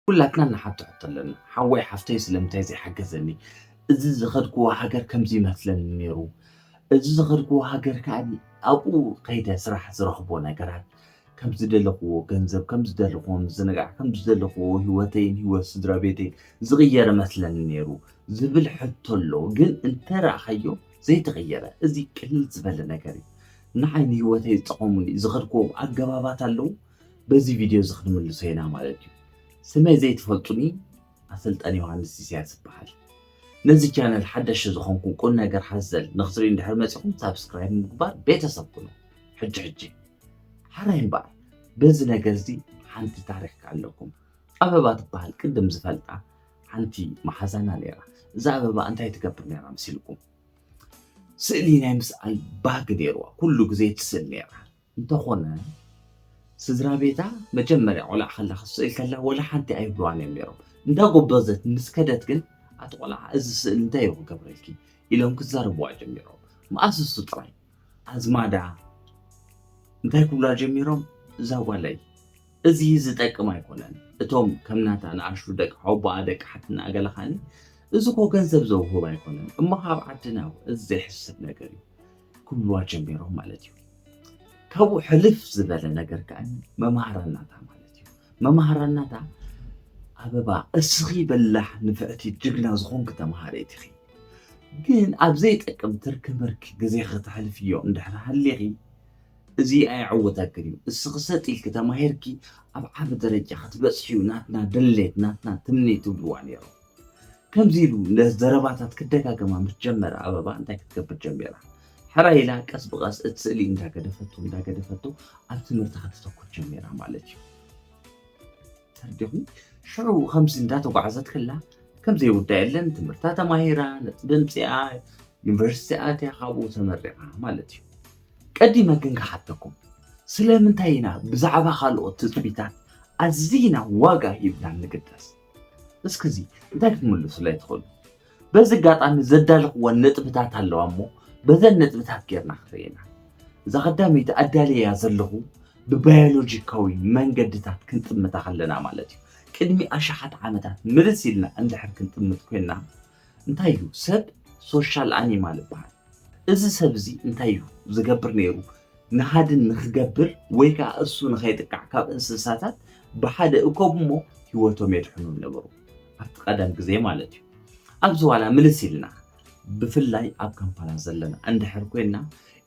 ኩላትና ንሓቶ ሕቶ ኣለና ሓወይ ሓፍተይ ስለምንታይ ዘይሓገዘኒ እዚ ዝኸድክዎ ሃገር ከምዚ ይመስለኒ ነይሩ እዚ ዝኸድክዎ ሃገር ከዓኒ ኣብኡ ከይደ ስራሕ ዝረኽቦ ነገራት ከም ዝደለኽዎ ገንዘብ ከም ዝደለኽዎ ምዝንጋዕ ከም ዝደለኽዎ ህይወተይን ህይወት ስድራ ቤተይን ዝቕየረ መስለኒ ነይሩ ዝብል ሕቶ ኣሎ ግን እንተረእኻዮ ዘይተቐየረ እዚ ቅልል ዝበለ ነገር እዩ ንዓይ ንህይወተይ ዝጠቐሙኒ ዝኸድክዎም ኣገባባት ኣለዉ በዚ ቪድዮ እዚ ክንምልሶ ኢና ማለት እዩ። ስመይ ዘይትፈልጡኒ ኣሰልጣኒ ዮሃንስ ኢሳያስ ይበሃል። ነዚ ቻነል ሓደሽ ዝኾንኩም ቁም ነገር ሓዘል ንክትርኢ እንድሕር መፂኹም ሳብስክራይብ ምግባር ቤተሰብ ኩኑ። ሕጂ ሕጂ ሓራይ እምበኣር በዚ ነገር እዚ ሓንቲ ታሪክ ኣለኩም። ኣበባ ትበሃል ቅድም ዝፈልጣ ሓንቲ መሓዛና ነይራ። እዛ ኣበባ እንታይ ትገብር ነይራ መሲልኩም? ስእሊ ናይ ምስኣል ባህጊ ነይርዋ። ኩሉ ግዜ ትስእል ነይራ። እንተኾነ ስድራቤታ መጀመርያ ቆልዓ ከላ ክትስእል ከላ ወላ ሓንቲ ኣይብልዋን እዮም ነይሮም። እንዳ ጎበዘት ምስ ከደት ግን ኣቲ ቆልዓ እዚ ስእሊ እንታይ እዩ ክገብረልኪ ኢሎም ክዛረብዋ ጀሚሮም። መኣስ እሱ ጥራይ ኣዝማዳ እንታይ ክብላ ጀሚሮም እዛ ጓለይ እዚ ዝጠቅም ኣይኮነን እቶም ከም ናታ ንኣሽቱ ደቂ ሓወቦኣ ደቂ ሓትና ገለ ኻኒ እዚ ኮ ገንዘብ ዘውህብ ኣይኮነን እሞ ካብ ዓድና እዚ ዘይሕስብ ነገር እዩ ክብልዋ ጀሚሮም ማለት እዩ። ካብኡ ሕልፍ ዝበለ ነገር ከዓ መማህራናታ ማለት እዩ መማህራናታ ኣበባ እስኺ በላሕ ንፍዕቲ ጅግና ዝኾንክ ተምሃሬት ኢኺ ግን ኣብ ዘይጠቅም ትርኪ ምርኪ ግዜ ከተሕልፍዮ እንድሕር ሃሊኺ እዚ ኣይዕወተክን እዩ እስኺ ሰጥ ኢልኪ ተማሂርኪ ኣብ ዓቢ ደረጃ ክትበፅሕዩ ናትና ድሌት ናትና ትምኒት ትብልዋ ነይሮም ከምዚ ኢሉ ዘረባታት ክደጋገማ ምስ ጀመረ ኣበባ እንታይ ክትገብር ጀሚራ? ሕራይ ኢላ ቀስ ብቐስ እቲ ስእሊ እንዳገደፈቶ እንዳገደፈቶ ኣብ ትምህርታ ከተተኩር ጀሚራ ማለት እዩ። ተርዲኹም ሽዑ ከምዚ እንዳተጓዕዘት ከላ ከም ዘይውዳ የለን ትምህርታ ተማሂራ ነጥቢ ምፅኣ ዩኒቨርሲቲ ኣትያ ካብኡ ተመሪቓ ማለት እዩ። ቀዲመ ግን ክሓተኩም ስለምንታይ ኢና ብዛዕባ ካልኦት ትፅቢታት ኣዝና ዋጋ ሂብና ንግደስ? እስኪ እዚ እንታይ ክትምልሱለይ ትኽእሉ? በዚ ኣጋጣሚ ዘዳለኽወን ነጥብታት ኣለዋ እሞ በዘን ነጥብታት ጌርና ክርእና እዛ ቀዳመይቲ ኣዳልያ ዘለኹ ብባዮሎጂካዊ መንገድታት ክንጥምታ ከለና ማለት እዩ ቅድሚ ኣሽሓት ዓመታት ምልስ ኢልና እንድሕር ክንጥምት ኮይንና እንታይ እዩ ሰብ ሶሻል ኣኒማል ይበሃል። እዚ ሰብ እዚ እንታይ እዩ ዝገብር ነይሩ ንሃድን ንክገብር ወይ ከዓ እሱ ንኸይጥቃዕ ካብ እንስሳታት ብሓደ እኮብ እሞ ህይወቶም የድሕኑ ነበሩ ኣብቲ ቀደም ግዜ ማለት እዩ። ኣብዚ ዋላ ምልስ ኢልና ብፍላይ ኣብ ካምፓላ ዘለና እንድሕር ኮይና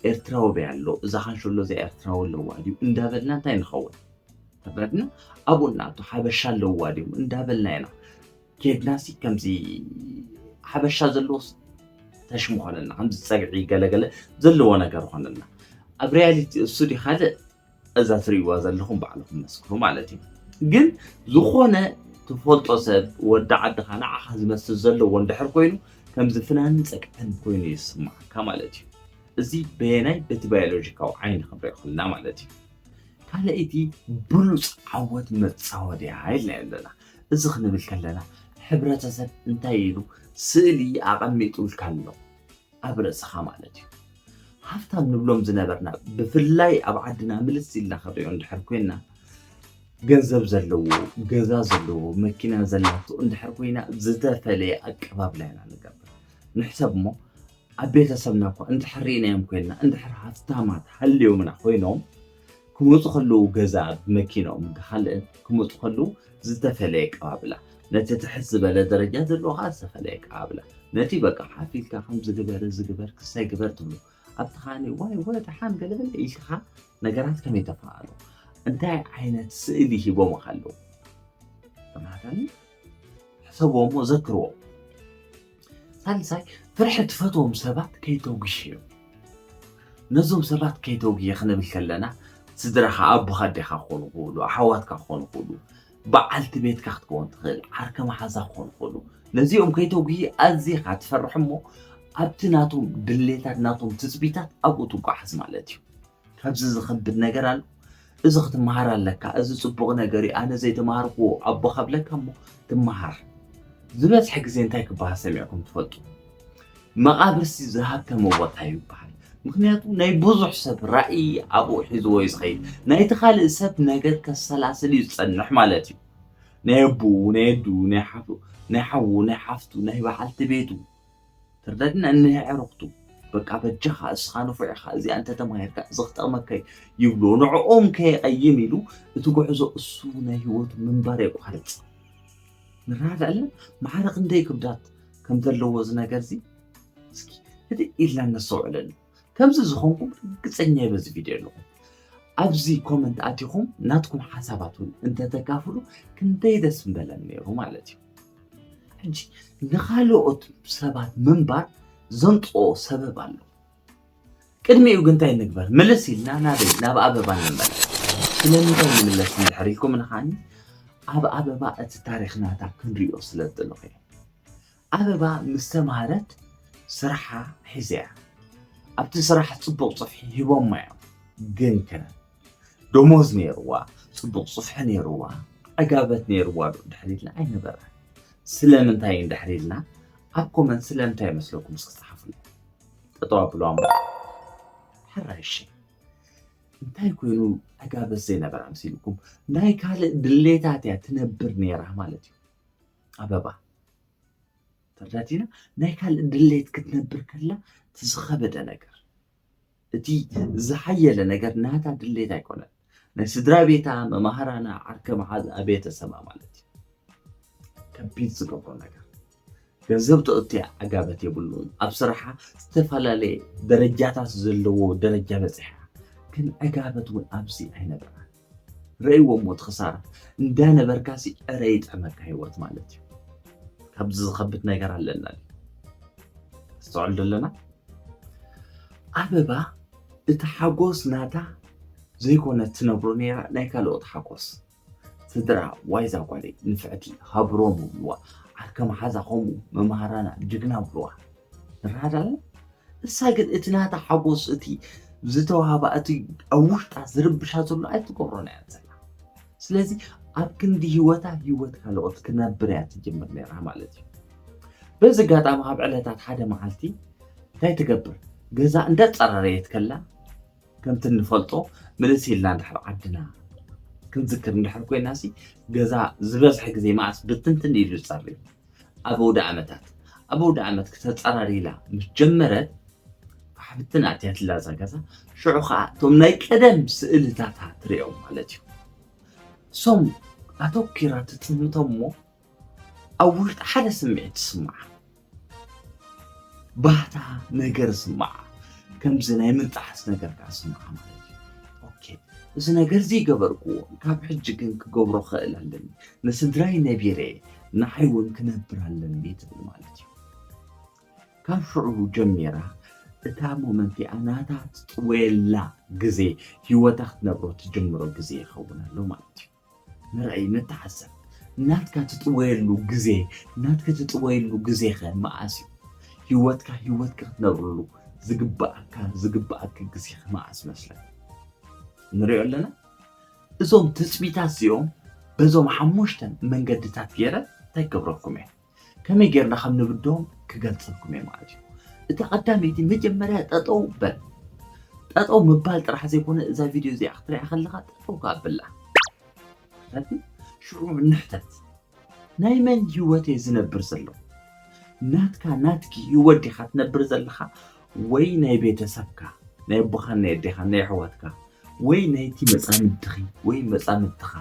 ኤርትራዊ በይ ኣሎ እዛ ካንሸሎ እዚኣ ኤርትራዊ ኣለዋ ድዩ እንዳበልና እንታይ ንኸውን ተበድና ኣብኡ እናኣቶ ሓበሻ ኣለዋ ድዮም እንዳበልና ኢና ጀግና ሲ ከምዚ ሓበሻ ዘለዎ ተሽሙ ኮነልና ከምዚ ፀግዒ ገለገለ ዘለዎ ነገር ኮነልና ኣብ ሪያሊቲ እሱ ዲ ካልእ እዛ ትርእይዋ ዘለኹም ባዕልኹም መስክሩ ማለት እዩ ግን ዝኾነ ትፈልጦ ሰብ ወዲ ዓድኻ ንዓኻ ዝመስል ዘለዎ እንድሕር ኮይኑ ከምዚ ፍናንን ፀግዕን ኮይኑ ይስማዓካ ማለት እዩ እዚ በየናይ በቲ ባዮሎጂካዊ ዓይኒ ክንሪኦ ከለና ማለት እዩ ካልኣይቲ ብሉፅ ዓወት መፃወድያ ኢልና ኣለና እዚ ክንብል ከለና ሕብረተሰብ እንታይ ኢሉ ስእሊ ኣቐሚጡልካ ኣሎ ኣብ ርእስኻ ማለት እዩ። ሃፍታም ንብሎም ዝነበርና ብፍላይ ኣብ ዓድና ምልስ ኢልና ክንሪኦ እንድሕር ኮይና ገንዘብ ዘለዎ ገዛ ዘለዎ መኪና ዘላቶ እንድሕር ኮይና ዝተፈለየ ኣቀባብላ ኢና ንገብር ንሕሰብ እሞ ኣብ ቤተሰብና እኳ እንድሕር ርኢናዮም ኮይንና እንድሕር ሃፍታማት ሃልዮምና ኮይኖም ክመጹ ከለዉ ገዛ ብመኪንኦም ብካልእን ክመጹ ከለዉ ዝተፈለየ ኣቀባብላ ነቲ ትሕት ዝበለ ደረጃ ዘለዎ ከኣ ዝተፈለየ ኣቀባብላ ነቲ በቃ ሓፍ ኢልካ ከምዚ ግበር እዚ ግበር ክሳይ ግበር ትብሎ ኣብቲ ከኣ ዋይ ወ ደሓን ገለበለ ኢልካ ነገራት ከመይ ተፋኣሎ እንታይ ዓይነት ስእሊ ሂቦምካ ኣለዉ ተማሃታኒ ሕሰቦም ወዘክርዎም። ሳልሳይ ፍርሒ ትፈትዎም ሰባት ከይተጉሽዮም ነዞም ሰባት ከይተጉየ ክንብል ከለና ስድራኻ ኣቦኻ ኣዴኻ ክኾኑ ክእሉ ኣሓዋትካ ክኾኑ ክእሉ በዓልቲ ቤትካ ክትከውን ትኽእል ዓርከ መሓዛ ክኾኑ ክእሉ ነዚኦም ከይተጉይ ኣዚኻ ትፈርሕ እሞ ኣብቲ ናቶም ድሌታት ናቶም ትፅቢታት ኣብኡ ትጓሓዝ ማለት እዩ ካብዚ ዝኸብድ ነገር ኣሎ እዚ ክትመሃር ኣለካ እዚ ፅቡቕ ነገር እዩ ኣነ ዘይተማሃርኩዎ ኣቦ ካብለካ እሞ ትመሃር ዝበዝሐ ግዜ እንታይ ክበሃል ሰሚዕኩም ትፈልጡ መቓብርሲ ዝሃብተመ ቦታ እዩ ይበሃል ምክንያቱ ናይ ብዙሕ ሰብ ራእይ ኣብኡ ሒዝዎ እዩ ዝኸይድ ናይቲ ካልእ ሰብ ነገር ከሰላስል እዩ ዝፀንሕ ማለት እዩ ናይ ኣቦኡ ናይ ኣዱ ናይ ሓፉ ናይ ሓዉ ናይ ሓፍቱ ናይ በዓልቲ ቤቱ ትርዳድና እንሄ ኣዕሩኽቱ። በቃ በጃኻ እስኻ ንፉዕ ኢኻ እዚኣ እንተተማሂርካ እዚ ክጠቕመካ እዩ ይብልዎ ንዕኦም ከየቐይም ኢሉ እቲ ጉዕዞ እሱ ናይ ህይወቱ ምንባር የቋርጽ ንራድ ኣለ ማዕረ ክንደይ ክብዳት ከም ዘለዎ እዚ ነገር እዚ እስኪ ህድእ ኢልና እነስተውዕለሉ ከምዚ ዝኾንኩም ርግጸኛ እየ በዚ ቪድዮ ኣለኹም ኣብዚ ኮመንት ኣቲኹም ናትኩም ሓሳባት እውን እንተተካፍሉ ክንደይ ደስ ምበለን ነይሩ ማለት እዩ ሕጂ ንካልኦት ሰባት ምንባር ዘምፅኦ ሰበብ ኣሎ ቅድሚኡ ግን እንታይ ንግበር ምልስ ኢልና ናበይ ናብ ኣበባ ንመለ ስለምንታይ ንምለስ እንድሕር ኢልኩም ንኻኒ ኣብ ኣበባ እቲ ታሪክ ናታ ክንሪኦ ስለ ዝደለኹ እየ ኣበባ ምስ ተማህረት ስራሓ ሒዛ'ያ። ኣብቲ ስራሕ ጽቡቕ ጽፍሒ ሂቦማ'ዮም። ግንከ ደሞዝ ነይርዋ፣ ጽቡቕ ጽፍሒ ነይርዋ፣ ዕጋበት ነይርዋ'ዶ ድሕር ኢልና? ኣይነበረን። ስለምንታይ'ዩ ድሕር ኢልና? ኣብ ኮመንት ስለምንታይ ይመስለኩም እስኪ ጸሓፉለይ። ጠጠው ኣብሉዋ'ሞ ሕራይ'ሺ። እንታይ ኮይኑ ዕጋበት ዘይነበራ መሲሉኩም? ናይ ካልእ ድሌታት'ያ ትነብር ነይራ ማለት'ዩ። ኣበባ ተረዳቲና ናይ ካልእ ድሌት ክትነብር ከላ እቲ ዝኸበደ ነገር እቲ ዝሓየለ ነገር ናታ ድሌት ኣይኮነን ናይ ስድራ ቤታ መማህራና ዓርከ መሓዝኣ ቤተሰባ ማለት እዩ ከቢድ ዝገብሮ ነገር ገንዘብ ተእትያ ዓጋበት የብሉን ኣብ ስራሓ ዝተፈላለየ ደረጃታት ዘለዎ ደረጃ በፂሓ ግን ዕጋበት እውን ኣብዚ ኣይነበራን ረእይዎሞ እቲ ክሳራ እንዳ ነበርካሲ ዕረ ይጥዕመካ ሂወት ማለት እዩ ካብዚ ዝኸብድ ነገር ኣለና ድዩ ነስተውዕል ዶ ኣለና ኣበባ እቲ ሓጎስ ናታ ዘይኮነት ትነብሮ ነይራ ናይ ካልኦት ሓጎስ ስድራ ዋይዛ ጓለይ ንፍዕቲ ሃብሮም ብልዋ ዓርከ መሓዛ ከምኡ መምሃራና ጅግና ብልዋ ራዳለ እሳ ግን እቲ ናታ ሓጎስ እቲ ዝተዋህባ እቲ ኣብ ውሽጣ ዝርብሻ ዘሎ ኣይትገብሮን እያ ዘላ ስለዚ ኣብ ክንዲ ሂወታ ሂወት ካልኦት ክነብር እያ ትጅምር ነራ ማለት እዩ በዚ ኣጋጣሚ ካብ ዕለታት ሓደ መዓልቲ እንታይ ትገብር ገዛ እንዳፀራረየት ከላ ከምቲ እንፈልጦ ምልስ ኢልና እንድሕር ዓድና ክንዝክር እንድሕር ኮይና ሲ ገዛ ዝበዝሐ ግዜ መዓስ ብትንትን ኢሉ ፀርዩ ኣብ ኣውደኣመታት ኣብ ኣውደኣመት ክተጸራሪ ኢላ ምስ ጀመረት ኣሕብትን ኣትያትላ እዛ ገዛ ሽዑ ከዓ እቶም ናይ ቀደም ስእልታታ ትርእዮም ማለት እዩ እሶም ኣተኪራ ትጥምቶም እሞ ኣብ ውሽጢ ሓደ ስምዒት ትስምዓ ባህታ ነገር ስምዓ ከምዚ ናይ ምንጣሕስ ነገር ከዓ ስምዓ ማለት እዩ ኦኬ እዚ ነገር እዚ ይገበርክዎ ካብ ሕጂ ግን ክገብሮ ክእል ኣለኒ ንስድራይ ነቢረ ንዓይ እውን ክነብር ኣለኒ ትብል ማለት እዩ። ካብ ሽዑ ጀሚራ እታ ሞመንት እያ ናታ ትጥወየላ ግዜ ሂወታ ክትነብሮ ትጅምሮ ግዜ ይኸውን ኣሎ ማለት እዩ። ንርኣይ ንተዓዘብ ናትካ ትጥወየሉ ግዜ ናትኪ ትጥወይሉ ግዜኸ መዓስ እዩ? ሂወትካ ሂወትኪ ክትነብርሉ ዝግባኣካ ዝግባኣኪ ግዜኸ መዓስ መስለኪ ንሪኦ ኣለና። እዞም ትጽቢታት እዚኦም በዞም ሓሙሽተ መንገድታት ገይረ እንታይ ክገብረኩም እየ ከመይ ጌርና ከም ንብድሆም ክገልጸልኩም እየ ማለት እዩ እቲ ቀዳመይቲ መጀመርያ ጠጠው በል ጠጠው ምባል ጥራሕ ዘይኮነ እዛ ቪድዮ እዚኣ ክትሪኣ ከለካ ጠጠው ካብላ ሽዑ ንሕተት ናይ መን ህይወት እየ ዝነብር ዘለኹ ናትካ ናትኪ ህይወት ዲኻ ትነብር ዘለኻ ወይ ናይ ቤተሰብካ፣ ናይ ኣቦኻን ናይ ኣዴኻን፣ ናይ ኣሕዋትካ፣ ወይ ናይቲ መጻምድትኺ ወይ መጻምድትኻ፣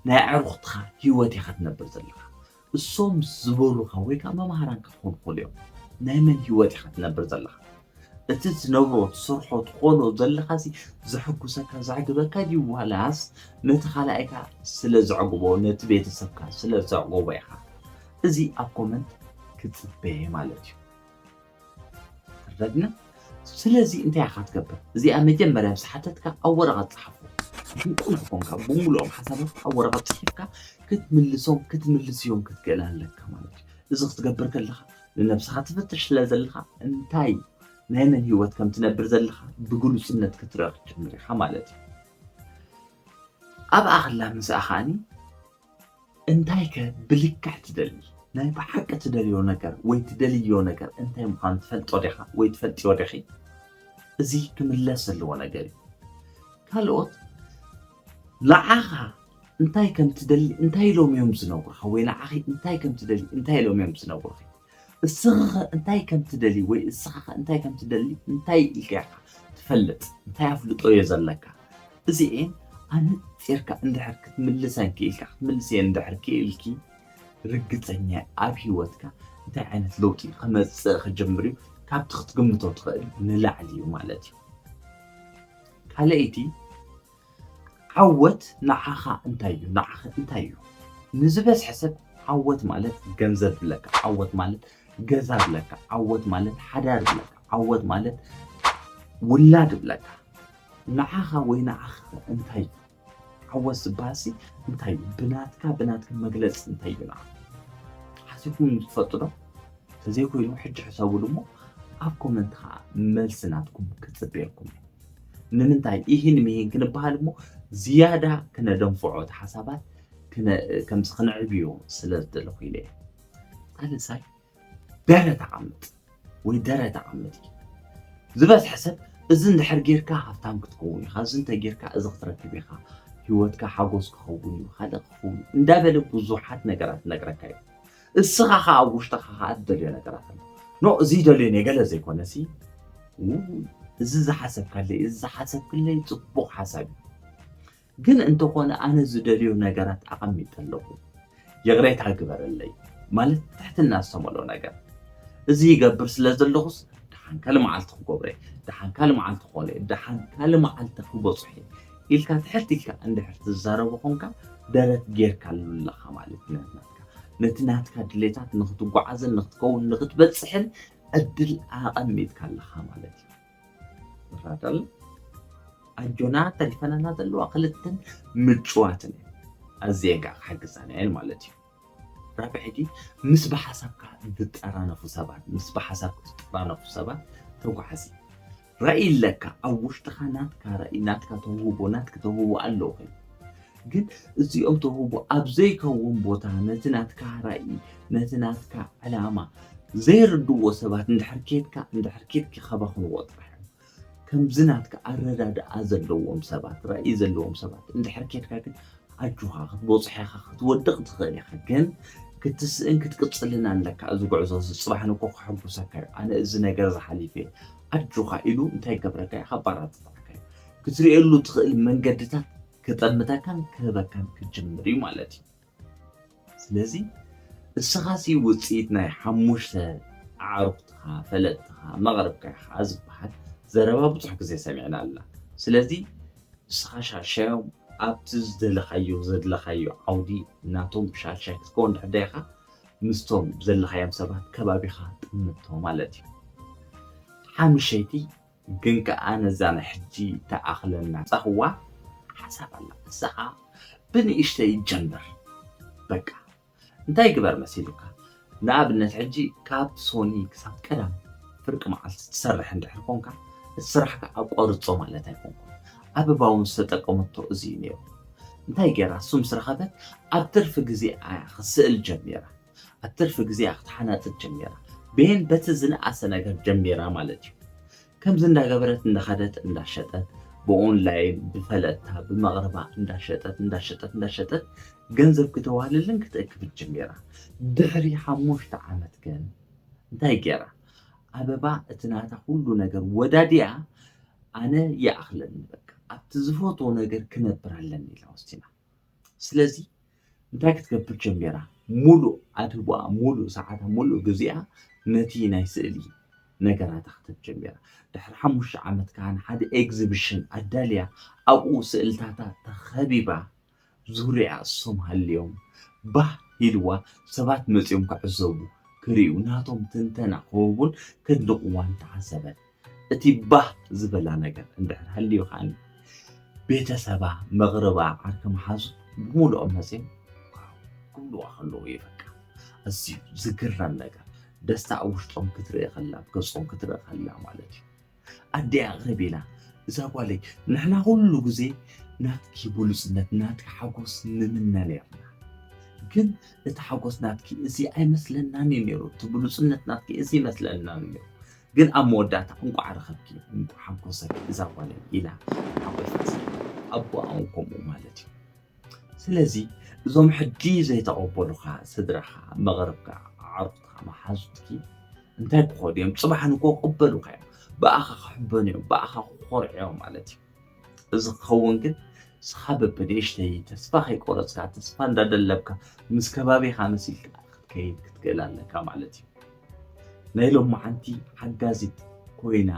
ናይ ኣዕሩኽትኻ ህይወት ኢኻ ትነብር ዘለኻ። እሶም ዝበሉኻ ወይ ከኣ መማህራንካ ክኾኑ ይኽእሉ እዮም። ናይ መን ህይወት ኢኻ ትነብር ዘለኻ? እቲ ትነብሮ፣ ትሰርሖ፣ ትኾኖ ዘለኻሲ ዘሕጉሰካ፣ ዘዕግበካ ድዩ ዋላስ ነቲ ካልኣይካ ስለ ዘዕግቦ፣ ነቲ ቤተሰብካ ስለ ዘዕጎቦ ኢኻ እዚ ኣብ ኮመንት ክትጽበ ማለት እዩ። ትረድና ስለዚ እንታይ ኢኻ ትገብር እዚኣ መጀመርያ ምስ ሓተትካ ኣብ ወረቐት ፀሓፎ ብቁል ዝኾንካ ብምሉኦም ሓሳባት ኣብ ወረቐት ፅሒፍካ ክትምልሶም ክትምልስዮም ክትክእል ኣለካ ማለት እዩ እዚ ክትገብር ከለኻ ንነብስኻ ትፈትሽ ስለ ዘለኻ እንታይ ናይ መን ህይወት ከም ትነብር ዘለኻ ብግሉፅነት ክትረኽ ጀምር ኢኻ ማለት እዩ ኣብኣ ከላ ምስኣ ከዓኒ እንታይከ ብልክዕ ትደሊ? ናይ ብሓቂ ትደልዮ ነገር ወይ ትደልይዮ ነገር እንታይ ምዃኑ ትፈልጦ ዲኻ ወይ ትፈልጥዮ ዲኺ? እዚ ክምለስ ዘለዎ ነገር እዩ። ካልኦት ንዓኻ እንታይ ከም ትደሊ እንታይ ኢሎም እዮም ዝነግሩኻ ወይ ንዓኺ እንታይ ከም ትደልዪ እንታይ ኢሎም እዮም ዝነግሩኺ? እስኽኸ እንታይ ከም ትደሊ ወይ እስኻኸ እንታይ ከም ትደሊ እንታይ ኢልካ ኢኻ ትፈልጥ እንታይ ኣፍልጦዮ ዘለካ እዚኤን ኣነጺርካ እንድሕር ክትምልሰን ክኢልካ ክትምልስየን እንድሕር ክኢልኪ ርግጸኛ ኣብ ሂወትካ እንታይ ዓይነት ለውጢ ክመጽእ ክጅምር እዩ ካብቲ ክትግምቶ ትኽእል ንላዕሊ እዩ ማለት እዩ ካልኣይቲ ዓወት ንዓኻ እንታይ እዩ ንዓኺ እንታይ እዩ ንዝበዝሐ ሰብ ዓወት ማለት ገንዘብ ብለካ ዓወት ማለት ገዛ ብለካ ዓወት ማለት ሓዳር ብለካ ዓወት ማለት ውላድ ብለካ ንዓኻ ወይ ንዓኺ እንታይ እዩ ዓወት ዝበሃልሲ እንታይ እዩ ብናትካ ብናትካ መግለፂ እንታይ እዩ ንዓ ሓሲብኩም ትፈልጡ ዶ ተዘይኮይኑ ሕጂ ሕሰብሉ እሞ ኣብ ኮመንት ከዓ መልሲ ናትኩም ክፅበየኩም እዩ ንምንታይ ኢሂን ምሂን ክንበሃል እሞ ዝያዳ ክነደንፍዖ እቲ ሓሳባት ከምዚ ክንዕብዮ ስለ ዝደለኹ ኢለ እየ ሳልሳይ ደረት ዓምጥ ወይ ደረት ዓምጥ እዩ ዝበዝሐ ሰብ እዚ እንድሕር ጌርካ ሃብታም ክትከውን ኢኻ እዚ እንተ ጌርካ እዚ ክትረክብ ኢኻ ህይወትካ ሓጎስ ክኸውን እዩ ካልእ ክኸውን እንዳበለ ብዙሓት ነገራት ነግረካ እዩ እስኻ ኸኣ ኣብ ውሽጥኻ ኸኣ ትደልዮ ነገራት ኣሎ ኖ እዚ ደልዮ ነገለ ዘይኮነሲ እዚ ዝሓሰብካለይ እዚ ዝሓሰብክለይ ፅቡቕ ሓሳብ እዩ ግን እንተኾነ ኣነ ዝደልዮ ነገራት ኣቐሚጠ ኣለኹ ይቕሬታ ግበረለይ ማለት ትሕትና ዝተመልኦ ነገር እዚ ይገብር ስለ ዘለኹስ ድሓን ካልእ መዓልቲ ክገብረ ድሓን ካልእ መዓልቲ ክኾነ ድሓን ካልእ መዓልቲ ክበፅሑ ኢልካ ትሕት ኢልካ እንድሕር ትዛረቡ ኮንካ ደረት ጌርካ ኣለኻ ማለት ነና ነቲ ናትካ ድሌታት ንኽትጓዓዝን ንኽትከውን ንኽትበፅሕን ዕድል ኣቐሚጥካ ኣለኻ ማለት እዩ ተኸታተል ኣጆና ተሪፈናና ዘለዋ ክልተን ምጭዋትን እዩ ኣዝየን ከዓ ክሕግዛና እየን ማለት እዩ ራብዒ ሕጂ ምስ ብሓሳብካ ዝጠራነፉ ሰባት ምስ ብሓሳብ ዝጠራነፉ ሰባት ተጓዓዚ ራኢ ኣለካ ኣብ ውሽጥካ ናትካ ራኢ ናትካ ተውህቦ ናትክ ተውህቦ ኣሎ ኮይኑ ግን እዚኦም ተውህቦ ኣብ ዘይከውን ቦታ ነቲ ናትካ ራኢ ነቲ ናትካ ዕላማ ዘይርድዎ ሰባት እንድሕር ኬድካ እንድሕር ኬድኪ ከባኽንዎ ጥራሕ እዮም ከምዚ ናትካ ኣረዳድኣ ዘለዎም ሰባት ራኢ ዘለዎም ሰባት እንድሕር ኬድካ ግን ኣጆኻ ክትቦጽሕ ኢኻ ክትወድቅ ትኽእል ኢኻ ግን ክትስእን ክትቅጽልን ኣለካ እዚ ጉዕዞ እዚ ጽባሕ ንግሆ ከሐጉሰካ እዩ ኣነ እዚ ነገር እዚ ሓሊፈ እየ ኣጆኻ ኢሉ እንታይ ገብረካ እዩ ካባራትታዕካ እዩ ክትርእየሉ ትኽእል መንገድታት ክጠምተካን ክህበካን ክጅምር እዩ ማለት እዩ ስለዚ እስኻሲ ውጽኢት ናይ ሓሙሽተ ኣዕሩኽትኻ፣ ፈለጥትኻ፣ መቕርብካ ኢኻ ዝብሃል ዘረባ ብዙሕ ግዜ ሰሚዕና ኣለና። ስለዚ ንስኻ ሻድሻዮም ኣብቲ ዝደለኻዮ ዘድለኻዮ ዓውዲ ናቶም ሻድሻይ ክትከውን ድሕር ደይኻ ምስቶም ዘለኻዮም ሰባት ከባቢኻ ጥምቶ ማለት እዩ። ሓምሸይቲ ግን ከኣ ነዛ ናይ ሕጂ ትኣኽለና ጸህዋ ሓሳብ ኣላ ንሳ ከኣ ብንእሽተይ ይጀመር በቃ እንታይ ግበር መሲሉካ ንኣብነት ሕጂ ካብ ሶኒ ክሳብ ቀዳም ፍርቂ መዓልቲ ትሰርሕ እንድሕር ኮንካ እቲ ስራሕካ ኣቋርጾ ማለት ኣይኮንኩን ኣበባ እውን ዝተጠቀመቶ እዚ እዩ ነይሩ እንታይ ገይራ ስም ስረኸበት ኣብ ትርፊ ግዜኣ እያ ክስእል ጀሚራ ኣብ ትርፊ ግዜኣ ክትሓናጽድ ጀሚራ። ቤን በቲ ዝነኣሰ ነገር ጀሚራ ማለት እዩ። ከምዚ እንዳገበረት እንዳኸደት እንዳሸጠት ብኦንላይን ብፈለጥታ ብመቕርባ እንዳሸጠት እንዳሸጠት እንዳሸጠት ገንዘብ ክተዋህልልን ክትእክብን ጀሚራ። ድሕሪ ሓሙሽተ ዓመት ግን እንታይ ገይራ? ኣበባ እቲ ናታ ኩሉ ነገር ወዳዲኣ ኣነ ይኣኽለኒ በቃ ኣብቲ ዝፈትዎ ነገር ክነብር ኣለኒ ኢላ ወሲና። ስለዚ እንታይ ክትገብር ጀሚራ? ሙሉእ ኣድህቦኣ፣ ሙሉእ ሰዓታ፣ ሙሉእ ግዚኣ ነቲ ናይ ስእሊ ነገራታ ክትህብ ጀሚራ። ድሕሪ ሓሙሽተ ዓመት ከኣ ንሓደ ኤግዚቢሽን ኣዳልያ ኣብኡ ስእልታታ ተኸቢባ ዙርያኣ እሶም ሃልዮም ባህ ኢልዋ ሰባት መጺኦም ክዕዘቡ፣ ክርእዩ፣ ናቶም ትንተና ክህቡን ከድንቕዋን ተዓዘበት። እቲ ባህ ዝበላ ነገር እንድሕር ሃልዩ ከዓኒ ቤተሰባ መቕርባ ዓርኪ መሓዙ ብምሉኦም መጺኦም ክብልዋ ከለዉ እዩ በቃ ኣዝዩ ዝግረም ነገር ደስታ ኣብ ውሽጦም ክትርኢ ከላ ኣብ ገጾም ክትርኢ ከላ ማለት እዩ ኣደይ ኣቕርብ ኢላ እዛ ጓለይ ንሕና ኩሉ ግዜ ናትኪ ብሉጽነት ናትኪ ሓጎስ ንምነ ነርና ግን እቲ ሓጎስ ናትኪ እዚ ኣይመስለናን እዩ ነይሩ እቲ ብሉጽነት ናትኪ እዚ ይመስለና ነይሩ ግን ኣብ መወዳእታ እንቋዕ ረኸብኪ እንቋዕ ሓንኮሰኪ እዛ ጓለይ ኢላ ሓቆይታ ስለ ኣቦኣ እውን ከምኡ ማለት እዩ ስለዚ እዞም ሕጂ ዘይተቐበሉኻ ስድራኻ መቕርብካ ኣዕሩኽትኻ መሓዙትኪ እንታይ ክኾኑ እዮም ፅባሕ ንኮ ክቕበሉኻ እዮም ብኣኻ ክሕበኑ እዮም ብኣኻ ክኾርዑ እዮም ማለት እዩ እዚ ክኸውን ግን ንስኻ በብንእሽተይ ተስፋ ከይቆረፅካ ተስፋ እንዳደለብካ ምስ ከባቢኻ መሲልካ ክትከይድ ክትክእል ኣለካ ማለት እዩ ናይ ሎማዓንቲ ሓጋዚት ኮይና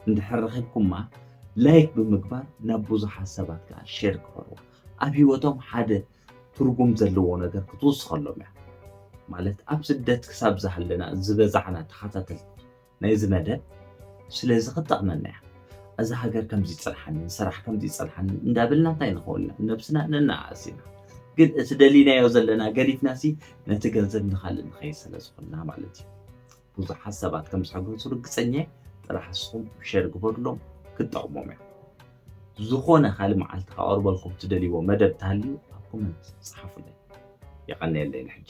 እንድሕር ረኺብኩማ ላይክ ብምግባር ናብ ብዙሓት ሰባት ከዓ ሼር ክበርዋ ኣብ ሂወቶም ሓደ ትርጉም ዘለዎ ነገር ክትውስኸሎም እያ ማለት ኣብ ስደት ክሳብ ዝሃለና ዝበዛዕና ተኸታተልቲ ናይዚ መደብ ስለዚ ክትጠቕመና እያ። እዛ ሃገር ከምዚ ይጸንሓኒ፣ ሰራሕ ከምዚ ይጸንሓኒ እንዳበልና እንታይ ንኸውን ኢና? ነብስና ነነኣእስ ኢና። ግን እቲ ደሊናዮ ዘለና ገዲፍናሲ ነቲ ገንዘብ ንኻልእ ንኸይድ ስለ ዝኾንና ማለት እዩ። ብዙሓት ሰባት ከም ዝሕጎሱ ርግጸኛ እየ። ጥራሕ ንስኹም ሸር ግበሩሎም ክትጠቕሞም እያ። ዝኾነ ካልእ መዓልቲ ከቐርበልኩም ትደልይዎ መደብ እንተሃልዩ ኣብ ኮመንት ጸሓፉለይ። የቐንየለይ ንሕጂ።